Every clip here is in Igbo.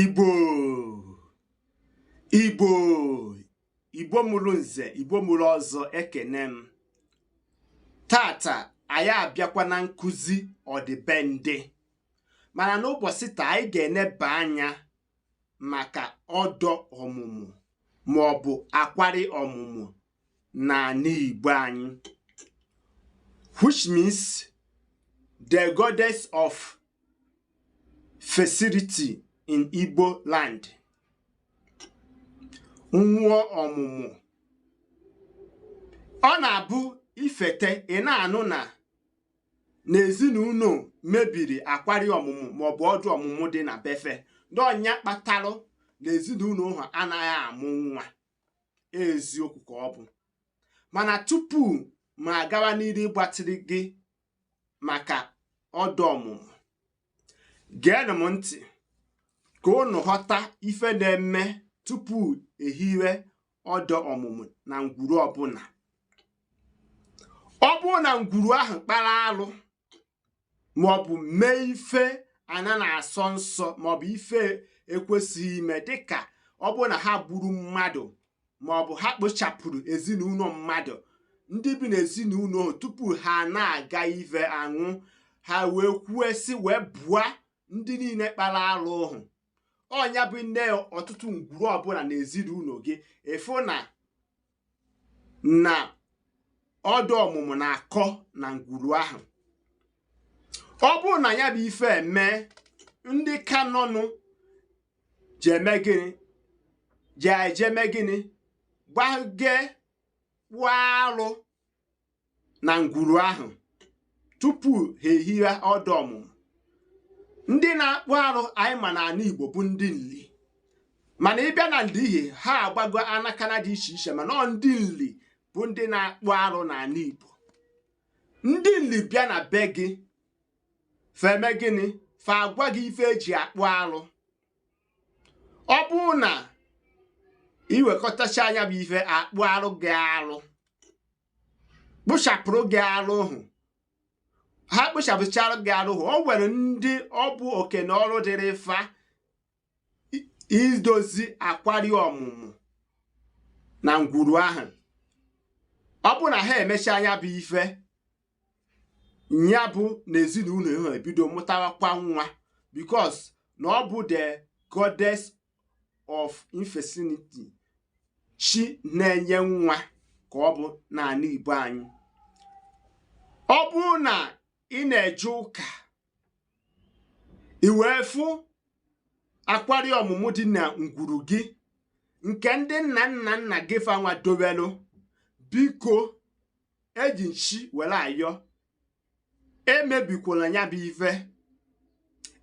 igbo igbo igbo mụrụ nze igbo mụrụ ọzọ ekene m taata anyị abịakwa na nkuzi ọdịbendị mana n'ụbọchị taa anyị ga-eneba anya maka ọda ọmụmụ ma ọ bụ akwari ọmụmụ n'ala Igbo anyị which means the goddess of fertility in Igbo land mmụọ ọmụmụ ọ na-abụ i fete ị na-anụ na n'ezinụlọ mebiri akwari ọmụmụ maọbụ ọda ọmụmụ dị na be fa na ọ nya kpatalụ na ezinụlọ ha anaghị amụ nwa eziokwu ka ọ bụ mana tupu mụ agawa n'iru ịgbatịrị gị maka ọda ọmụmụ geenụ m ntị ka unu ghọta ife na-eme tupu e hiwe ọda ọmụmụ na ngwuru ọbụla ọ bụrụ na ngwuru ahụ kpara alụ maọbụ mee ife ana na-asọ nsọ maọbụ ife ekwesịghị ime dịka ọ bụrụ na ha gburu mmadụ maọbụ ha kpochapụrụ ezinụlọ mmadụ ndị bi n'ezinụlọ ahụ tupu ha na-aga ive aṅụ ha wee kwue sị wee bụa ndị niile kpara arụ ahụ ọ nya bụ i nee ọtụtụ ngwuru ọbụla n'ezinụlọ gị ịfụ na na ọda ọmụmụ na-akọ na ngwuru ahụ ọ bụrụ na ya bụ ife eme ndị ka nọnụ je-eme gịnị je-eje eme gịnị gbage kpụọ alụ na ngwuru ahụ tupu ha ehiwe ọda ọmụmụ ndị na-akpụ arụ anyị ma na ala Igbo bụ ndị nli mana ị bịa na nli ihe ha agbago anaka na-adị iche iche mana ndị nli bụ ndị na-akpụ arụ n'ala Igbo ndị nli bịa na be gị fa eme gịnị fa agwa gị ife e ji akpụ arụ ọ bụrụ na i wekọtachaa nya bụ ife a kpụara gị arụ kpochapụrụ gị arụ ahụ ha kpochapụchara gị arụ ahụ o nwere ndị ọ bụ oke na ọrụ dịrị fa idozi akwari ọmụmụ na ngwuru ahụ ọ bụ na ha emechaa nya bụ ife ya bụ na ezinụlọ ha ebido mụtawakwa nwa because na ọ bụ the goddess of infertility chi na-enye nwa ka ọ bụ n'anị Igbo anyị ọ bụrụ na ị na-eje ụka i wee fụ akwari ọmụmụ dị na ngwuru gị nke ndị nna nna nna gị fanwa dowelu biko eji m chi were ayọ emebikwala ya bụ ife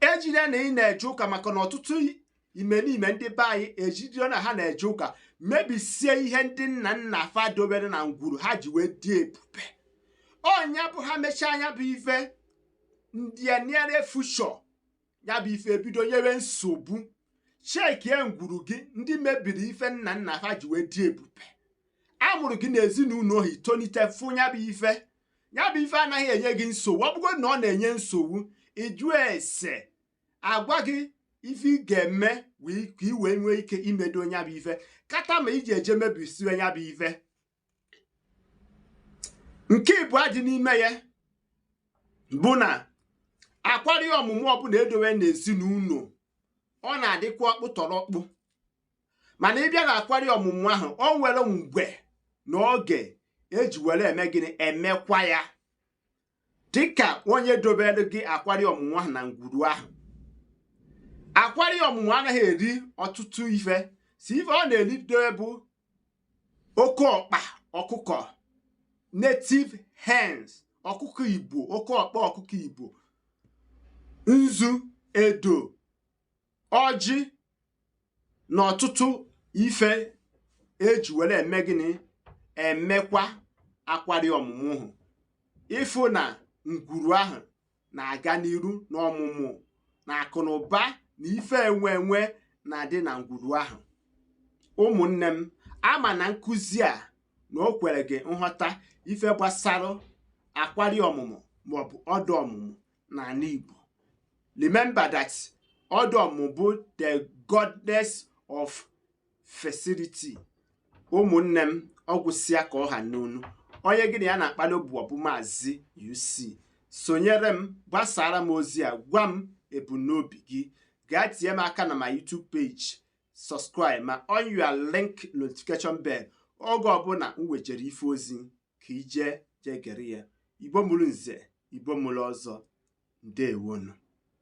ejide na ị na-eje ụka maka na ọtụtụ imerime ndị be anyị ejide na ha na-eje ụka mebisie ihe ndị nna nna fa dobere na ngwuru ha ji wee dị ebube nya bụ ha mechaa nya bụ ife in the near future ya bụ ife ebido nyewe nsogbu chekie ngwuru gị ndị mebiri ife nna nna ha ji wee dị ebube a mụrụ gị n'ezinụlọ ahụ i tonite fụ ya bụ ife ya bụ ife anaghị enye gị nsogbu ọ bụgodị na ọ na-enye nsogbu ị jụ ese a gwa gị ife ị ga-eme ka ị wee nwee ike imedo nya bụ ife kata ma iji eje mebisiwe nya bụ ife nke ịbụa dị n'ime ya bụ na akwari ọmụmụ ọbụla e dowe n'ezinụlọ ọ na-adịkwa ọkpụtọrọkpụ mana ị bịa na akwari ọmụmụ ahụ o nwere mgbe na oge eji were eme gịnị emekwa ya dịka onye dobere gị akwari ọmụmụ ahụ na ngwuru ahụ akwari ọmụmụ anaghị eri ọtụtụ ife isi ife ọ na-eri dobe bụ oke ọkpa ọkụkọ native hens ọkụkọ igbo oke ọkpa ọkụkọ igbo nzu edo ọjị na ọtụtụ ife eji were eme gịnị emekwa akwari ọmụmụ ahụ ị fụ na ngwuru ahụ na-aga n'iru n'ọmụmụ na akụ na ụba na ife enwe enwe na-adị na ngwuru ahụ ụmụnne m ama m na nkụzi a na o kwere gị nghọta ife gbasara akwari ọmụmụ maọbụ ọda ọmụmụ n'ala Igbo remember that ọda ọmụmụ bụ the goddess of fertility ụmụnne m ọ gwụsịa ka ọ ha m n'ọnụ onye gị na ya na-akpali ubu ọ bụ maazị UC sonyere m gbasaara m ozi a gwa m ebumnobi gị gaa tinye m aka na my YouTube page subscribe ma on your link notification bell oge ọbụla m wejere ife ozi ka i je jee gere ya igbo mụrụ nze igbo mụrụ ọzọ ndeewonụ